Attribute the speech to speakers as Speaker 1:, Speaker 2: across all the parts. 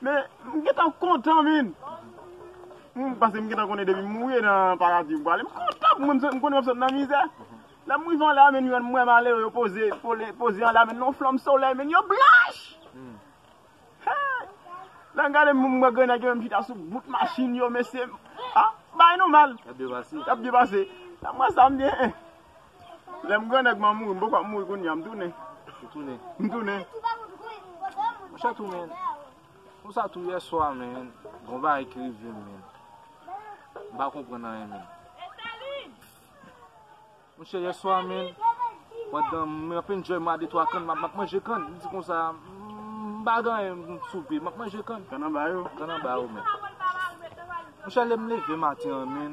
Speaker 1: Men m gentan kontan min. M pase m gentan konnen depi m mouri e nan paradi m prale. M kontan pou mwen m konnen map sot nan mizè. Lè m rive anla min jwenn mwen malere yo poze poze anla min nan flanm solèy min yo blanch! Hey! Lè m gade m wè granèg yo menm chita sou bout machin yo mesye. Ah! Bay nou mal. Yap byen pase. Yap byen pase. Lè m wè sa m di eh eh. Lèm grannèg mwen mouri m poko ap mouri kounya m tounen. Ou tounen? M tounen. Mwen chè tou men.
Speaker 2: Pou sa tou yè swa men. Bon ba e krive m men. M pa konpran nan yon men. Mwen chè yè swa men. Mwen dan m ap enjoy m a de twa kan m ap manje kan. M di konsa m pa gan yon m soupe. M ap manje kan. Kan an ba yo. Kan an
Speaker 1: ba yo men.
Speaker 2: Mwen chè lèm leve maten an men.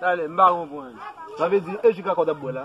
Speaker 3: Tale, m pa konprann. Sa vle
Speaker 1: di
Speaker 3: e ji kaka w t ap bwè la?